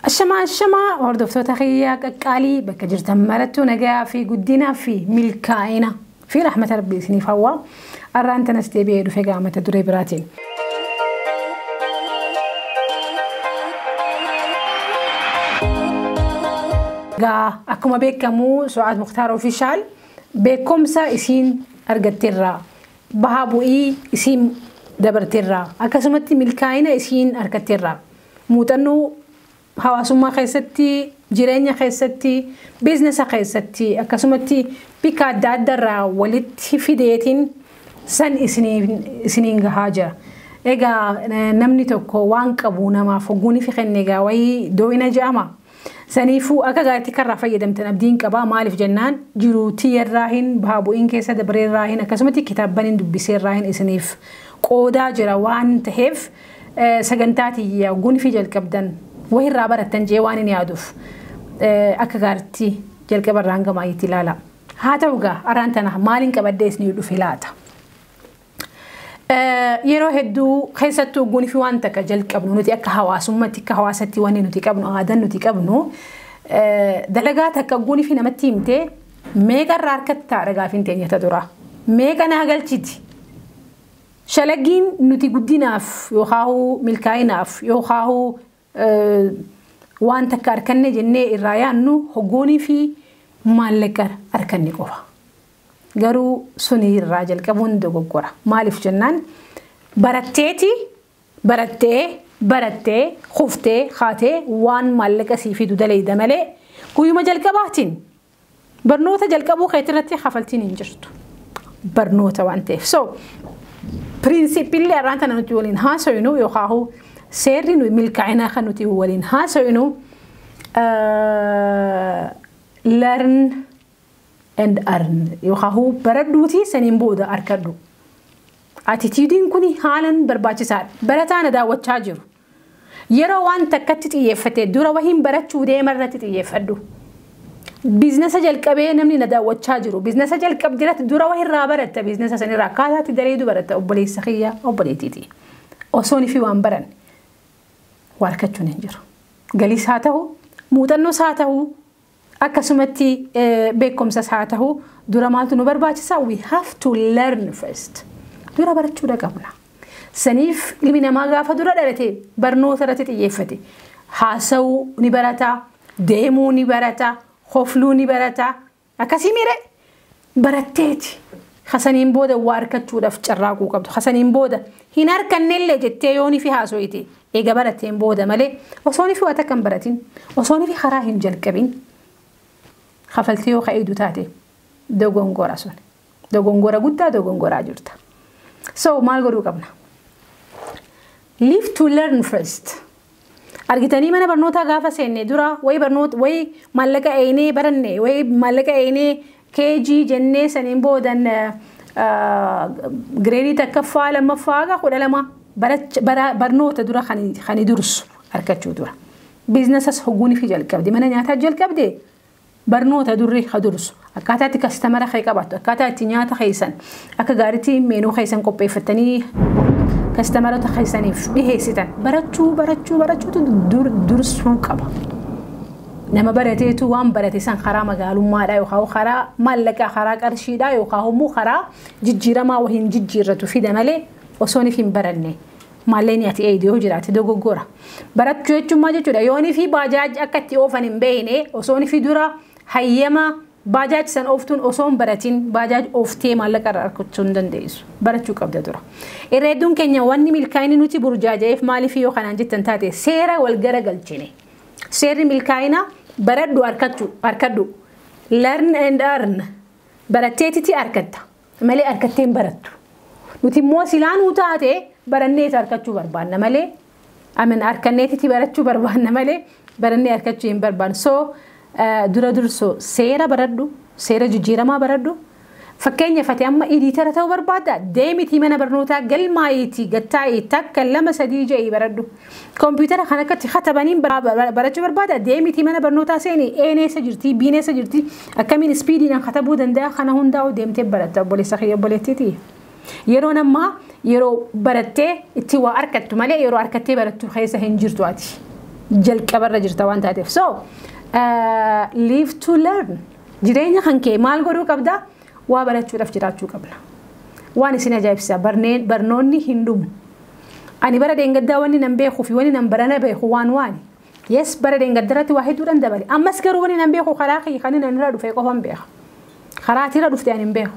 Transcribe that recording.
Ashamaa ashamaa hordoftoota kiyyaa qaqqaalii bakka jirtan marattuu nagayaa fi guddinaa fi milkaa'ina. fi rahmata rabbii isiniif hawwa. Arraan tanas deebi'ee dhufe gaa mata duree biraatiin. Gaa akkuma beekamu Su'aad Muktaar Ofishaal beekumsa isiin argatteerra. Bahaa bu'ii isiin dabarteerra. Akkasumatti milkaa'ina isiin argatteerra. Muuxannoo Hawaasummaa keessatti, jireenya keessatti, biiznesa keessatti akkasumatti bikka adda adda irraa walitti fideetiin san isiniin gahaa jira. Egaa namni tokko waan qabu namaaf hogguunifi kenne egaa wayii dooyina ja'ama. Saniifuu akka gaariitti akka irraa fayyadamtan abdiin qaba. Maaliif jennaan jiruu tiyyarraahin baha bu'iin keessa dabreerraahin akkasumatti kitaabbanin dubbiseerraahin isiniif qoodaa jira waan taheef. Sagantaa tiyya gonifii jalqabdan wahi irraa barattan jee waan hin yaaduuf akka gaaritti jalqaba irraa hanga maayyitti ilaala. Haa ta'u gaa araan tana maaliin qabadhee isiniif dhufe laata? Yeroo hedduu keessattuu gonifi waan takka jalqabnu nuti akka hawaasummaatti akka hawaasatti wanni nuti qabnu aadaan nuti qabnu dalagaa takka gonifi namatti himtee meeqa irraa harkatti ta'a dhagaafiin teenya ta dura meeqa naa galchiti Shalagiin nuti guddinaaf yookaahuu milkaa'inaaf yookaahuu waan takka arkanne jennee irraa yaannu hoggoonii fi maallaqa arkanne qofa. Garuu suni irraa jalqabuun dogoggora. Maaliif jennaan baratteeti barattee barattee kuftee kaatee waan maallaqa sii fidu dalayda malee guyyuma jalqabaatiin Barnoota jalqabuu keetirratti kafaltiin hin jirtu. Barnoota waan ta'eef. So, piriinsiippiillee har'aan tana nuti waliin haasofnu yookaan seerri nuyi milkaa'inaa kan nuti waliin haasofnu learn and earn yookaan baradhuutii saniin booda arkadhu. Atitiidiin kun haalan barbaachisaadha. Barataa na daawwachaa jiru. Yeroo waan takkatti xiyyeeffate dura wahiin barachuuf deema irratti xiyyeeffadhu. Biiznasa jalqabee namni na daawwachaa jiru biiznasa jalqabde irratti dura wahirraa baratta biiznasa sanirraa akkaataatti dareedu baratta obboleessa kiyya obboleettiiti. Osoon fi waan baran waarkachuun hin jiru. Galiis haa ta'u muuxannoos haa ta'u Akkasumatti beekumsas haa tahu dura maaltu nu barbaachisa? We have to learn first. Dura barachuudha qabna. Saniif ilmi namaa gaafa dura dhalate barnoota irratti xiyyeeffate. Haasa'uu ni barata, deemuu ni barata, hofluu ni barata. Akkasii miiree? baratteeti. Hasaniin booda waa arkachuudhaaf carraaquu qabdu. Hasaniin booda hin arkannellee jettee yoo nifi haasoyte eega barateen booda malee osoo nifi waa takka hin baratin osoo nifi karaa hin jalqabin kafaltee yoo ka'iidu taate dogongora sun. Dogongora guddaa dogongoraa jirta. So maal godhuu qabna? Live to learn first. Argitanii mana barnootaa gaafa seenne dura wayi barnoota wayi maallaqa eeynee baranne wayi maallaqa eeynee KG jennee saniin boodan gireedii takkaffaa lammaffaa haga kudha lama barnoota dura kan dursu argachuu dura. Biiznasas hogguun fi jalqabde mana nyaataa jalqabde Barnoota durri ha dursu. Akkaataa itti kastamara kee qabattu, akkaataa itti nyaata keessan akka gaariitti meenuu keessan qopheeffattanii kastamarota keessaniif dhiheessitan barachuu barachuu barachuutu dur, dursuu qaba. Nama barateetu waan barate san karaa magaalummaadhaa yookaan karaa maallaqaa karaa qarshiidhaa yookaan immoo karaa jijjiiramaa wahiin jijjiirratu fida malee osooniif hin baranne Maalleen ati eeydu yoo jiraate dogoggora. Barachuu jechuun maal jechuudha? Yoon fi baajaaj akka itti oofan hin beekne osoon fi dura hayyama baajaaj san ooftuun osoon baratiin baajaaj ooftee maallaqa irraa argachuu hin dandeessu. Barachuu qabda dura. Irra hedduun keenya wanni milkaa'inni nuti burjaaja'eef maaliif yoo kanaan jettan taate seera wal gara galchine. Seerri milkaa'ina baradhu harkadhu. Learn and earn. Baratteetiti harkatta. malee arkattee hin barattu. Nuti immoo silaa nuu taate baranneeti arkachuu barbaanna malee amin arkanneetiti barachuu barbaanna malee barannee arkachuu hin barbaannu. So eh, dura dursoo seera baradhu, seera jijjiiramaa baradhu. Fakkeenya fate amma idiitara ta'uu barbaadda deemitii mana barnootaa galmaa'iitii gattaa'ii takka lama sadii ja'ii baradhu. Kompiitara kan akkatti katabaniin barachuu barbaada deemitii mana barnootaa seeni E'n eessa jirti B'n eessa jirti akkamiin ispiidiidhaan katabuu danda'a kana hundaa'u deemtee baratta obboleessa kiyya obboleettiiti. Yeroon ammaa yeroo barattee itti waa arkattu malee yeroo arkattee barattu keessa hin jirtu ati. Jalqabarra jirta waan taateef. So live to learn jireenya kan kee maal godhuu qabda waa barachuudhaaf jiraachuu qabna. Waan isin ajaa'ibsiisa barnoonni hin dhumu. Ani bara deengaddaa wanni nan beekuu fi wanni nan barana beeku waan waani. Yes bara deengadda irratti waa hedduudhan dabale. Ammas garuu wanni nan beeku karaa kiyya kan inni irra dhufee qofan beeka. Karaa ati irra dhufte ani hin beeku.